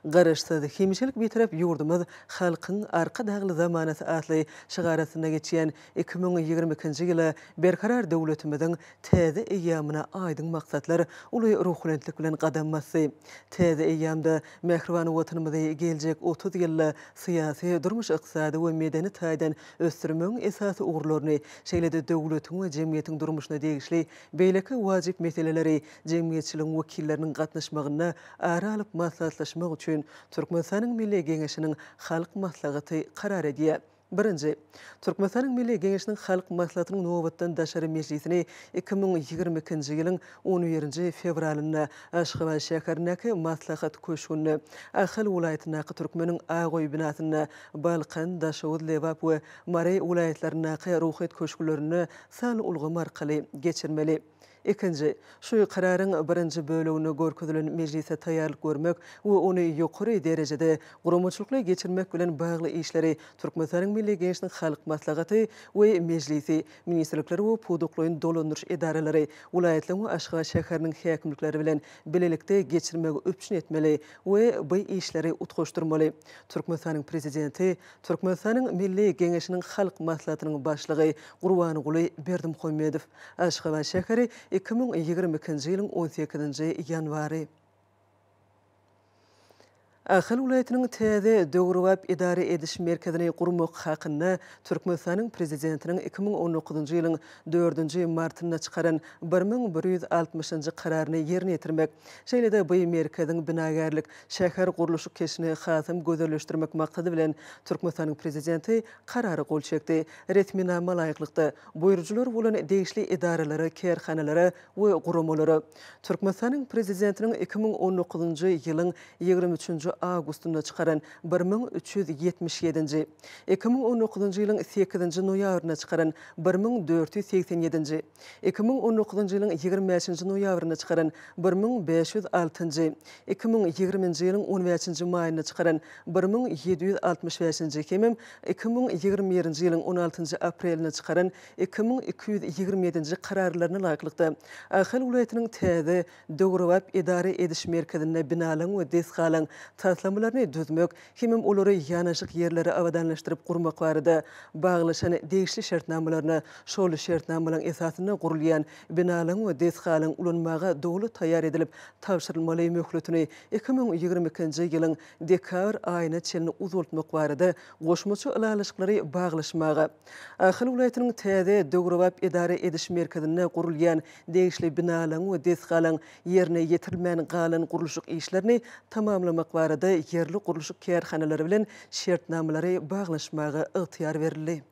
Garaşsyz, hemişelik Bitarap ýurdumyz Halkyň Arkadagly zamanasy atly şygar astynda geçýän iki müň ýigrimi ikinji ýyla Berkarar döwletimiziň Täze eýýamyna aýdyň maksatlar uly ruhubelentlik bilen gadam basdy. Täze eýýamda mähriban Watanymyzy geljek otuz ýylda syýasy, durmuş-ykdysady we medeni taýdan ösdürmegiň esasy ugurlaryny, şeýle-de döwletiň we jemgyýetiň durmuşyna degişli beýleki wajyp meseleleri jemgyýetçiligiň wekilleriniň gatnaşmagynda ara alyp maslahatlaşmak üçin Türkmenistanyň Milli Geňeşiniň Halk Maslahaty karar edýär. Birinji. Türkmenistanyň Milli Geňeşiniň Halk Maslahatynyň nobatdan daşary mejlisini iki müň ýigrimi ikinji ýylyň on birinji fewralynda Aşgabat şäherindäki Maslahat köşgünde, Ahal welaýatyndaky Türkmeniň Ak öýi binasynda, Balkan, Daşoguz, Lebap we Mary welaýatlaryndaky Ruhyýet köşklerinde sanly ulgam arkaly geçirmeli. Ikinji, şu Kararyň birinji böleginde görkezilen mejlise taýýarlyk görmek we ony ýokary derejede guramaçylykly geçirmek bilen bagly işleri Türkmenistanyň Milli Geňeşiniň Halk Maslahaty we Mejlisi, ministrlikler we pudaklaýyn dolandyryş edaralary, welaýatlaryň we Aşgabat şäheriniň häkimlikleri bilen bilelikde geçirmegi üpjün etmeli we bu işleri utgaşdyrmaly. Türkmenistanyň Prezidenti Türkmenistanyň Milli Geňeşiniň Halk Maslahatynyň Başlygy Gurbanguly Berdimuhamedow, Aşgabat şäheri, iki müň ýigrimi ikinji ýylyň on sekizinji ýanwary. Ahal welaýatynyň täze, döwrebap edara ediş merkezini gurmak hakynda Türkmenistanyň Prezidentiniň iki müň on dokuzynjy ýylyň dördünji martynda çykaran bir müň bir ýüz altmyşynjy Kararyny ýerine ýetirmek, şeýle-de bu merkeziň binagärlik Şäher gurluşyk keşini hasam gözelleşdirmek maksady bilen, Türkmenistanyň Prezidenti Karara gol çekdi. Resminama laýyklykda, buýrujylar bolan degişli edaralara, kärhanalara we guramalara Türkmenistanyň Prezidentiniň iki müň on dokuzynjy ýylyň ýigrimi üçünji awgustynda çykaran bir müň üç ýüz ýetmiş ýedinji, iki müň on dokuzynjy ýylyň sekizinji noýabrynda çykaran bir müň dört ýüz segsen ýedinji, Iki müň on dokuzynjy ýylyň ýigrimi bäşinji noýabrynda çykaran bir müň bäş ýüz altynjy, iki müň ýigriminji ýylyň on bäşinji maýynda çykaran bir müň ýedi ýüz altmyş bäşinji hemem iki müň ýigrimi birinji ýylyň on altynjy aprelinde çykaran iki müň iki ýüz ýigrimi ýedinji kararlaryna laýyklykda, Ahal welaýatynyň täze, döwrebap edara ediş merkezinde binalaryň we desgalaryň taslamalaryny düzmek, hemem olary ýanaşyk ýerleri abadanlaşdyryp gurmak barada baglaşan degişli şertnamalaryna, şol şertnamalaryň esasynda gurulýan binalaryň we desgalaryň ulanmaga doly taýýar edilip tabşyrylmaly möhletini iki müň ýigrimi ikinji ýylyň dekabr aýyna çenli uzaltmak barada goşmaça ylalaşyklary baglaşmaga. Ahal welaýatynyň täze döwrebap edara ediş merkezinde gurulýan degişli binalaryň we desgalaryň Ýerine ýetirilmän galan gurluşyk işlerini tamamlamak barada ýerli gurluşyk kärhanalary bilen şertnamalary baglaşmaga ygtyýar berildi.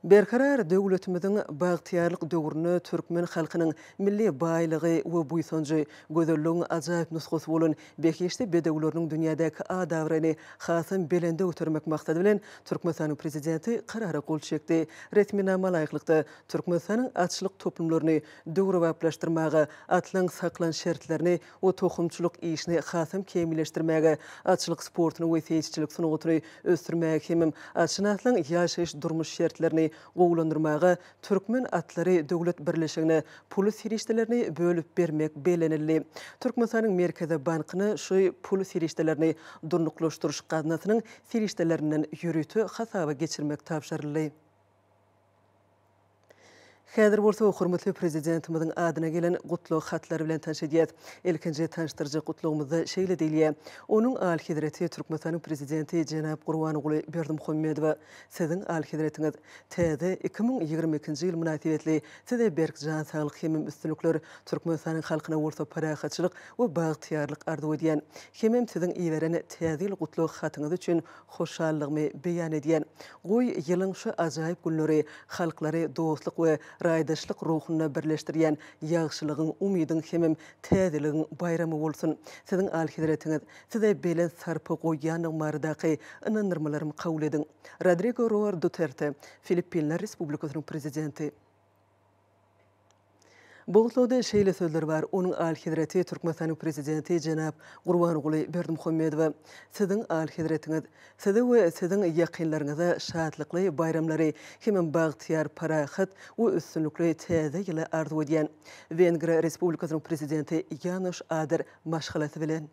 Berkarar döwletimiziň bagtyýarlyk döwründe türkmen halkynyň milli baýlygy we buýsanjy, gözelligiň ajaýyp nusgasy bolan behişdi bedewleriniň dünýädäki at-abraýyny hasam belende götermek maksady bilen, Türkmenistanyň Prezidenti Karara gol çekdi. Resminama laýyklykda, Türkmenistanyň atçylyk toplumlaryny döwrebaplaşdyrmaga, atlaryň saklan şertlerini we tohumçylyk işini hasam kämilleşdirmäge, atçylyk sportuny we seýisçilik sungatyny ösdürmäge hemem atşynaslaryň ýaşaýyş-durmuş şertlerini gowulandyrmaga Türkmen atlary döwlet birleşigine pul serişdelerini bölüp bermek bellenildi. Türkmenistanyň Merkezi bankyna şu pul serişdelerini Durnuklaşdyryş gaznasynyň serişdelerinden ýörite hasaba geçirmek tabşyryldy. Häzir bolsa hormatly Prezidentimiziň adyna gelen gutlag hatlary bilen tanyş edýäs. Ilkinji tanyşdyryjy gutlagymyzda şeýle diýilýär, Onuň Alyhezreti Türkmenistanyň Prezidenti jenap Gurbanguly Berdimuhamedowa, Siziň Alyhezretiňiz, täze iki müň ýigrimi ikinji ýyl mynasybetli Size berk jan saglyk hemem üstünlikler, Türkmenistanyň halkyna bolsa parahatçylyk we bagtyýarlyk arzuw edýän. Hemem Siziň iberen Täze ýyl gutlag hatyňyz üçin Hoşallygymy beýan edýän. Goý, ýylyň şu ajaýyp günleri halklary dostluk we raýdaşlyk ruhunda birleşdirýän ýagşylygyň, umydyň hemem täzeligiň baýramy bolsun! Siziň Alyhezretiňiz, Size belent sarpa goýýandygym baradaky ynandyrmalarymy kabul ediň. Rodrigo Roar Duterte, Filippinler Respublikasynyň Prezidenti. Bu gutlagda şeýle sözler bar, Onuň Alyhezreti Türkmenistanyň Prezidenti jenap Gurbanguly Berdimuhamedowa, Siziň Alyhezretiňiz! Size we Siziň ýakynlaryňyza şatlykly baýramlary hemem bagtyýar, parahat we üstünlikli Täze ýyly arzuw edýän. Wengriýa Respublikasynyň Prezidenti Ýanoş Ader maşgalasy bilen.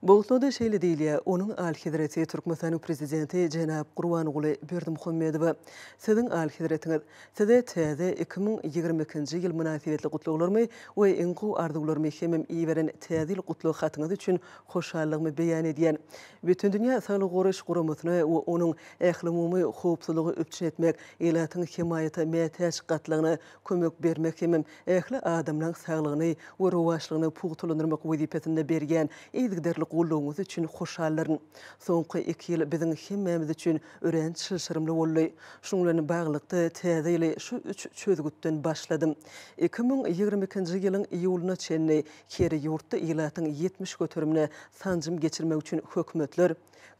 Bolsa-da, şeýle diýilýär, onuň Alyhezreti Türkmenistanyň Prezidenti jenap Gurbanguly Berdimuhamedowa, Siziň Alyhezretiňiz, Size täze iki müň ýigrimi ikinji ýyl mynasybetli gutlaglarymy we iň gowy arzuwlarymy hemem iberen Täze ýyl gutlag hatyňyz üçin hoşallygymy beýan edýän. Bütindünýä Saglygy goraýyş guramasyna we onuň ählumumy howpsuzlygy üpjün etmek, ilatyň hemaýata mätäç gatlagyna kömek bermek hemem ähli adamlaň saglygyny we rowaçlygyny pugtalandyrmak wezipesinde berýän yzygiderli goldawyňyz üçin hoşaldyryn. Soňky iki ýyl biziň hemmämiz üçin örän çylşyrymly boldy. Şunuň bilen baglylykda, täze ýyly şu üç çözgütden başladym. Iki müň ýigrimi ikinji ýylyň iýulyna çenli her ýurtda ilatyň ýetmiş göterimine sanjym geçirmek üçin hökümetler,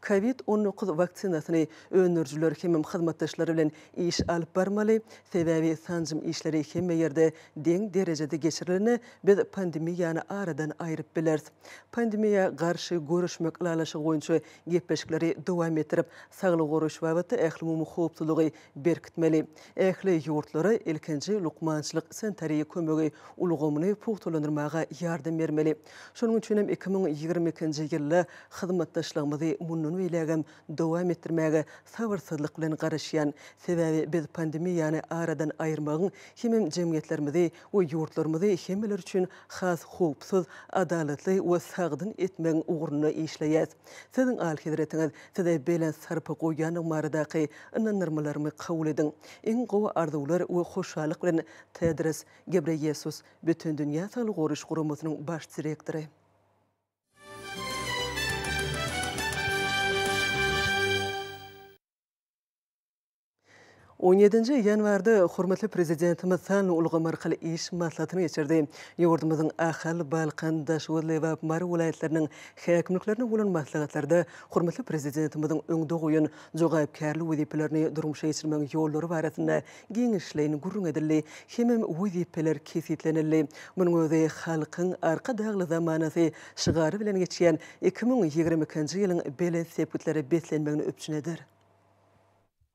Covid on dokuz waksinasyny öndürijiler hemem hyzmatdaşlary bilen iş alyp barmaly, sebäbi sanjym işleri hemme ýerde deň derejede geçirilende biz pandemiýany aradan aýryp bileris. Pandemiýa garşy göreşmek ylalaşygy boýunça gepleşikleri dowam etdirip, saglygy goraýyş babatda ählumumy howpsuzlygy berkitmeli. Ähli ýurtlara ilkinji lukmançylyk-sanitariýa kömegi ulgamyny pugtalandyrmaga ýardam bermeli. Şonuň üçin hem iki müň ýigrimi ikinji ýylda hyzmatdaşlygymyzy mundan beýlägem dowam etdirmäge sabyrsyzlyk bilen garaşýan, sebäbi biz pandemiýany aradan aýyrmagyň hemem jemgyýetlerimizi we ýurtlarymyzy hemmeler üçin has howpsuz, adalatly we sagdyn etmegiň ugrunda işleýäs. Siziň Alyhezretiňiz size belent sarpa goýýandygy baradaky ynandyrmalarymy kabul ediň. Iň gowy arzuwlar we hoşallyk bilen, Tedros Gebreýesus, Bütindünýä Saglygy Goraýyş Guramasynyň Baş direktory. On ýedinji ýanwarda hormatly Prezidentimiz sanly ulgam arkaly iş maslahatyny geçirdi. Ýurdumyzyň Ahal, Balkan, Daşoguz, Lebap, Mary welaýatlarynyň häkimliklerine bolan maslahatlarda hormatly Prezidentimiziň öňde goýan jogapkärli wezipelerini durmuşa geçirmegiň ýollary barasynda giňişleýin gürrüň edildi hemem wezipeler kesgitlenildi. Munuň özi Halkyň Arka dagly zamanasy şygary bilen geçýän iki müň ýigrimi ikinji ýylyň belent sepgitlere beslenmegini üpjün eder.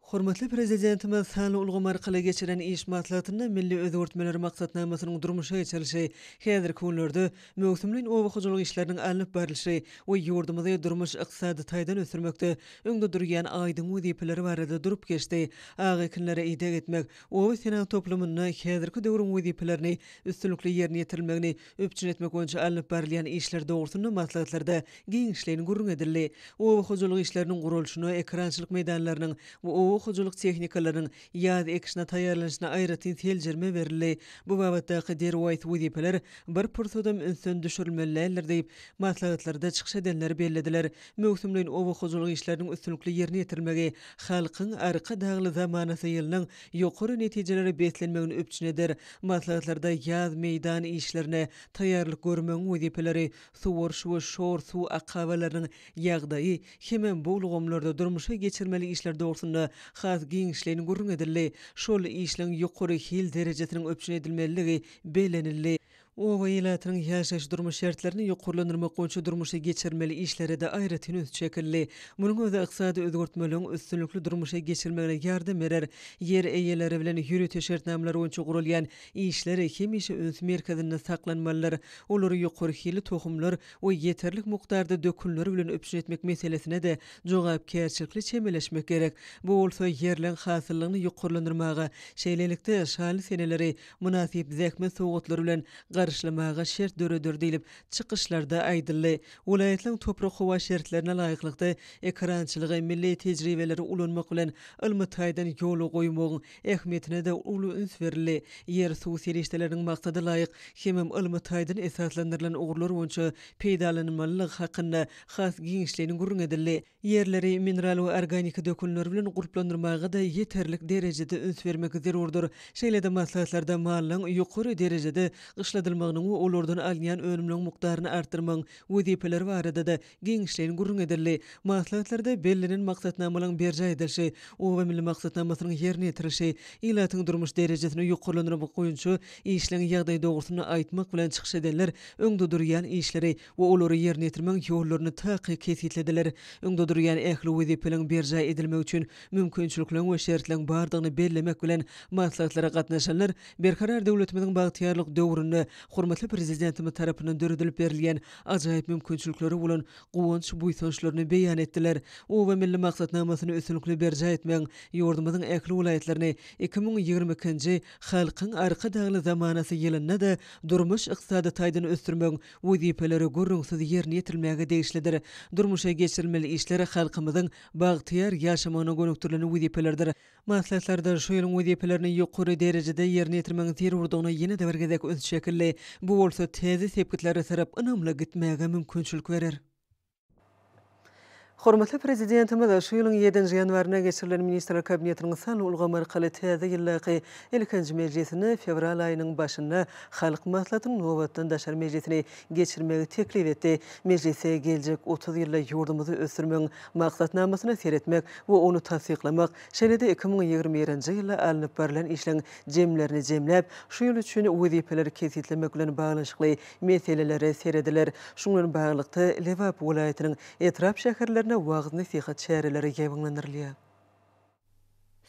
Hormatly Prezidentimiz sanly ulgam arkaly geçiren iş maslahatynda milli özgertmeler maksatnamasynyň durmuşa geçirilişi, häzirki günlerde möwsümleýin oba hojalyk işleriniň alnyp barlyşy we ýurdumyzy durmuş-ykdysady taýdan ösdürmekde öňde durýan aýdyň wezipeler barada durup geçdi. Ak ekinlere ideg etmek, oba-senagat toplumynda häzirki döwrüň wezipelerini üstünlikli ýerine ýetirilmegini üpjün etmek boýunça alnyp barylýan işler dogrusynda maslahatlarda giňişleýin gürrüň edildi. Oba hojalyk işleriniň guralyşyna, ekerançylyk meýdanlarynyň we oba hojalyk tehnikalarynyň ýaz ekişine taýýarlanyşyna aýratyn seljerme berildi. Bu babatdaky derwaýys wezipeler bir pursadam ünsden düşürilmeli däldir diýip, maslahatlarda çykyş edenler bellediler. Möwsümleýin oba hojalyk işleriniň üstünlikli ýerine ýetirilmegi Halkyň Arkadagly zamanasy ýylynyň ýokary netijelere beslenmegini üpjün eder. Maslahatlarda ýaz meýdan işlerine taýýarlyk görmegiň wezipeleri, suwaryş we şor suw akabalarynyň ýagdaýy hem-ä bu ulgamlarda durmuşa geçirmeli işler dogrusynda has giňişleýin gürrüň edildi. Şol işleň ýokary hil derejesiniň üpjün edilmelidigi bellenildi. Oba ilatynyň ýaşaýyş-durmuş şertlerini ýokarlandyrmak boýunça durmuşa geçirilmeli işlere-de aýratyn üns çekildi. Munuň özi ykdysady özgertmeleriň üstünlikli durmuşa geçirilmegine ýardam berer. Ýer eýeleri bilen ýörite şertnamalar boýunça guralýan işler hemişe üns merkezinde saklanmalydyr. Olary ýokary hilli tohumlar we ýeterlik mukdarda dökünler bilen üpjün etmek meselesine-de jogapkärçilikli çemeleşmek gerek. Bu bolsa ýerleň hasyllygyny ýokarlandyrmaga, şeýlelikde, şaly seneleri mynasyp zähmet sowgatlary bilen garşylamaga şert döreder diýlip, çykyşlarda aýdyldy. Welaýatlaryň toprak-howa şertlerine laýyklykda ekerançylygy, milli tejribeleri ulanmak bilen ylmy taýdan ýola goýmagyň ähmiýetine-de uly üns berildi. Ýer-suw serişdeleriniň maksada laýyk hemem ylmy taýdan esaslandyrylan ugurlar boýunça peýdalanylmalylygy hakynda has giňişleýin gürrüň edildi. Ýerleri mineral we organiki dökünler bilen gurplandyrmaga-da ýeterlik derejede üns bermek zerurdyr. Şeýle-de maslahatlarda mallaryň ýokary derejede gyşladylmagynyň we olardan alynýan önümleň mukdaryny artdyrmagyň wezipeleri barada-da giňişleýin gürrüň edildi. Maslahatlarda bellenen maksatnamalaryň berjaý edilişi, Oba milli maksatnamasynyň ýerine ýetirilişi, ilatyň durmuş derejesini ýokarlandyrmak boýunça işleň ýagdaýy dogrusynda aýtmak bilen çykyş edenler öňde durýan işleri we olary ýerine ýetirmegiň ýollaryny takyk kesgitlediler. Öňde durýan ähli wezipeleriň berjaý edilmegi üçin mümkinçilikleriň we şertleriň bardygyny bellemek bilen, maslahatlara gatnaşanlar Berkarar döwletimiziň bagtyýarlyk döwründe hormatly Prezidentimiz tarapyndan döredilip berilýän ajaýyp mümkinçiliklere bolan guwanç-buýsançlaryny beýan etdiler. Oba milli maksatnamasyny üstünlikli berjaý etmegiň ýurdumyzyň ähli welaýatlaryny iki müň ýigrimi ikinji Halkyň Arkadagly zamanasy ýylynda-da durmuş-ykdysady taýdan ösdürmegiň wezipeleri gürrüňsiz ýerine ýetirilmäge degişlidir. Durmuşa geçirilmeli işler halkymyzyň bagtyýar ýaşamagyna gönükdirilen wezipelerdir. Maslahatlarda şu ýylyň wezipelerini ýokary derejede ýerine ýetirmegiň zerurdygyna ýene-de bir gezek üns çekildi. Bu bolsa täze sepgitlere tarap ynamly gitmäge mümkinçilik berer. Hormatly Prezidentimiz şu ýylyň ýedinji ýanwarynda geçirilen Ministrler Kabinetiniň sanly ulgamy arkaly täze ýyldaky ilkinji mejlisini fewral aýynyň başynda Halk Maslahatynyň nobatdan daşary mejlisini geçirmegi teklip etdi. Mejlise geljek otuz ýylda ýurdumyzy ösdürmegiň Maksatnamasyna seretmek we ony tassyklamak, şeýle-de iki müň ýigrimi birinji ýylda alnyp barlan işleriň jemlerini jemläp, şu ýyl üçin wezipeleri kesgitlemek bilen baglanyşykly meselelere serediler. Şu bilen baglylykda, Lebap welaýatynyň etrap-şäherlerinde wagyz-nesihat çäreleri ýaýbaňlandyrylýar.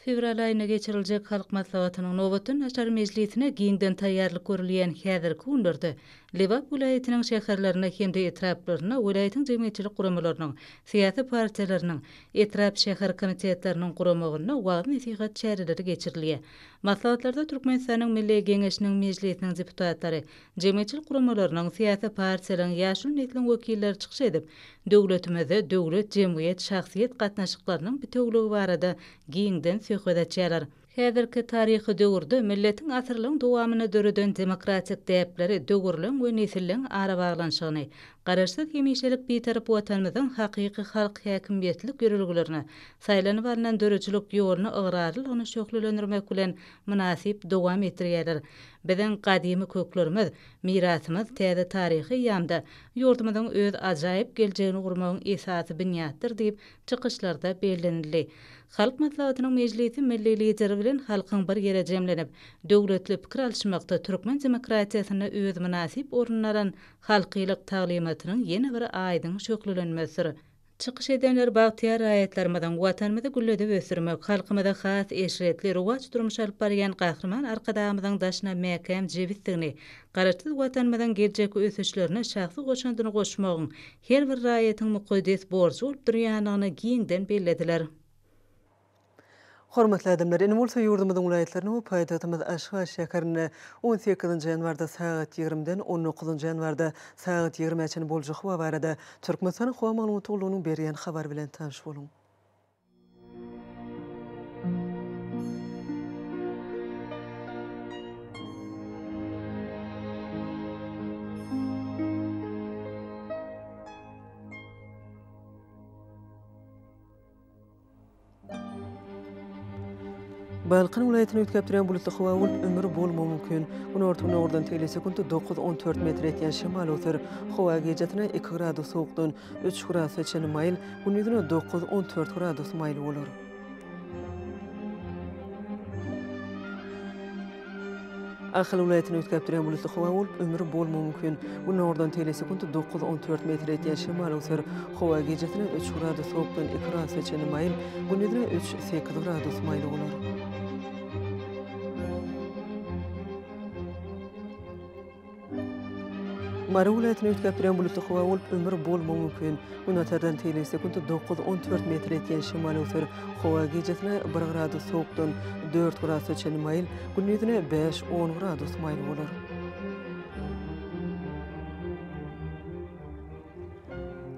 Fewral aýynda geçiriljek Halk Maslahatynyň nobatdan-daşary mejlisine giňden taýýarlyk görülýän häzirki günlerde Lebap welaýatynyň şäherlerinde hem-de etraplarynda welaýatyň jemgyýetçilik guramalarynyň, syýasy partiýalarynyň, etrap-şäher komitetleriniň guramagynda wagyz-nesihat çäreleri geçirilýär. Maslahatlarda Türkmenistanyň Milli Geňeşiniň Mejlisiniň deputatlary, jemgyýetçilik guramalarynyň, syýasy partiýalaryň, ýaşuly nesliň wekilleri çykyş edip, döwletimizde döwlet, jemgyýet, şahsyýet gatnaşyklarynyň bitewiligi barada giňden söhbet açýarlar. Häzirki taryhy döwürde milletiň asyrlaryň dowamynda döreden demokratik däpleri döwürleň we nesilleň arabaglanyşygyny, Garaşsyz, hemişelik Bitarap Watanymyzyň hakyky halk häkimiýetlik ýörelgelerine, saýlanyp alnan döredijilik ýoluna ygrarlylygyny şöhlelendirmek bilen, mynasyp dowam etdirýärler. Biziň gadymy köklerimiz, mirasymyz täze taryhy eýýamda ýurdumyzyň öz ajaýyp geljegini gurmagyň esasy binýatdyr diýip, çykyşlarda bellenildi. Halk Maslahatynyň mejlisi milli Lideri bilen halkyň bir ýere jemlenip, döwletli pikir alyşmakda türkmen demokratiýasynda öz mynasyp ornuny alan halkylyk taglymatynyň ýene bir aýdyň şöhlelenmesidir. Çykyş edenler bagtyýar raýatlarymyzyň Watanymyzy gülledip ösdürmek, halkymyza has eşretli, rowaç durmuş alyp barýan Gahryman Arkadagymyzyň daşyna mäkäm jebisdigini, Garaşsyz Watanymyzyň geljekki ösüşlerine şahsy goşandyny goşmagyň her bir raýatyň mukaddes borjy bolup durýandygyny giňden bellediler. Hormatly adamlar, indi bolsa ýurdumyzyň welaýatlaryna we paýtagtymyz Aşgabat şäherine on sekizinji ýanwarda sagat ýigrimiden on dokuzynjy ýanwarda sagat ýigrimä çenli boljak howa barada Türkmenistanyň howa maglumat gullugynyň berýän habary bilen tanyş boluň. Balkan welaýatyny üýtgäp durýan bulutly howa bolup, ümür bolmagy mümkin. Günorta-gündogardan tel sekundy dokuz-on dört metr etýän şemal öwser. Howa gijasine iki gradus sowukdan üç gradusa çenli maýyl, gündizine dokuz-on dört gradus maýyl bolar. Ahal welaýatyny üýtgäpdirýän bulutly howa bolup, ömri bolmagy mümkin. Günordan telesekunt dokuz, on dört metr etýän şemal öwser. Howa gijesine üç gradus sowukdan iki gradusa çenli maýyl, gündizine üç, sekiz gradus maýyl bolar. Mary welaýatyny üýtgäp duran bulutly howa bolup, ümür bolmagy mümkin. Gün atardan tegelek sekunt dokuz-on dört metr ýetýän şemal öwser. Howa gijesine bir gradus sowukdan dört gradusa çenli maýyl, gündizine bäş-on gradus maýyl bolar.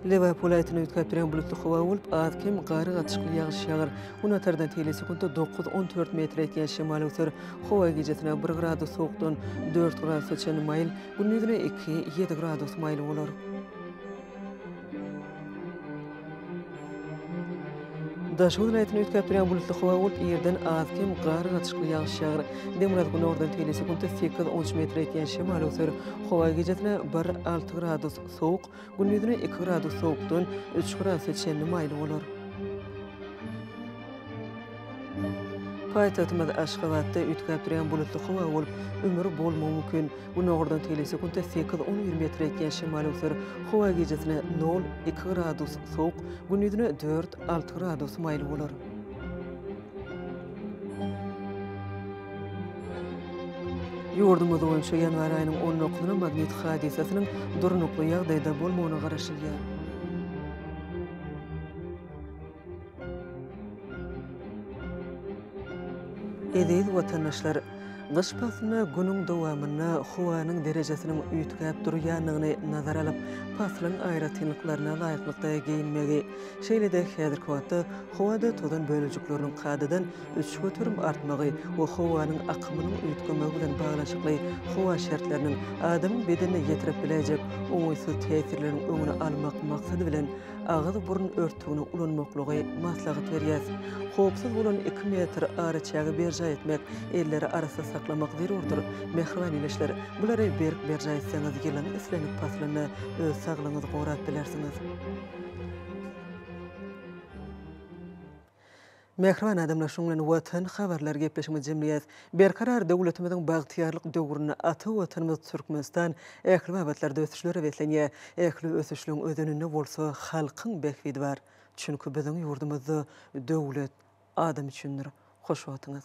Lebap welaýatyny üýtgäpdirýän bulutly howa bolup, az-kem gar gatyşykly ýagyş ýagar. Gün atardan teýle sekuntda dokuz-on dört metre ýetýän şemal öser. Howa gijesine bir gradus sowukdan dört gradusa çenli maýyl, gündiziňä iki-ýedi gradus maýyl bolar. Daşoguz welaýatyny üýtgäp durýan bulutly howa bolup, ýerden az-kem gar, gatyşykly ýagyş ýagar. Demirgazyk günordan tegelýän sekuntda sekiz, on üç metre ýetýän şemal öser. Howa gijesine bir, alty gradus sowuk, gündizine iki gradus sowukdan üç gradusa çenli maýyl bolar. Paýtagtymyz Aşgabatda üýtgäp durýan bulutly howa bolup, ümür bolmagy mümkin. Günordan teýle sekuntda sekiz, on bir metr etýän şemal öwser. Howa gijesine nol, iki gradus sowuk, gündizine dört, alty gradus maýyl bolar. Ýurdumyz boýunça ýanwar aýynyň on dokuzyna magnit hadysasynyň durnukly ýagdaýda bolmagyna garaşylýar. Eziz watandaşlar! Gyş paslynda günüň dowamynda howanyň derejesiniň üýtgäp durýandygyny nazara alyp, paslyň aýratynlyklaryna laýyklykda geýinmegi, şeýle-de häzirki wagtda howada tozan bölejikleriniň kadadan üç göterim artmagy we howanyň akymynyň üýtgemegi bilen baglanyşykly howa şertleriniň adamyň bedenine ýetirip biläýjek oňaýsyz täsirleriň öňüni almak maksady bilen agyz-burun örtügini ulanmaklygy maslahat berýär. Howpsuz bolan iki metr araçägi berjaý etmek, elleri arassa saklamak zerurdyr. Mähriban ildeşler, bulary berk berjaý etseňiz, ýylyň islendik paslynda öz saglygyňyzy gorap bilersiňiz. Mähriban adamlar şuň bilen Watan habarlary gepleşigimizi jemleýäs. Berkarar döwletimiziň bagtyýarlyk döwründe ata Watanymyz Türkmenistan ähli babatlarda ösüşlere beslenýär. Ähli ösüşligiň özeninde bolsa halkyň bähbidi bar. Çünki biziň ýurdumyzda döwlet adam üçindir. Hoş wagtyňyz.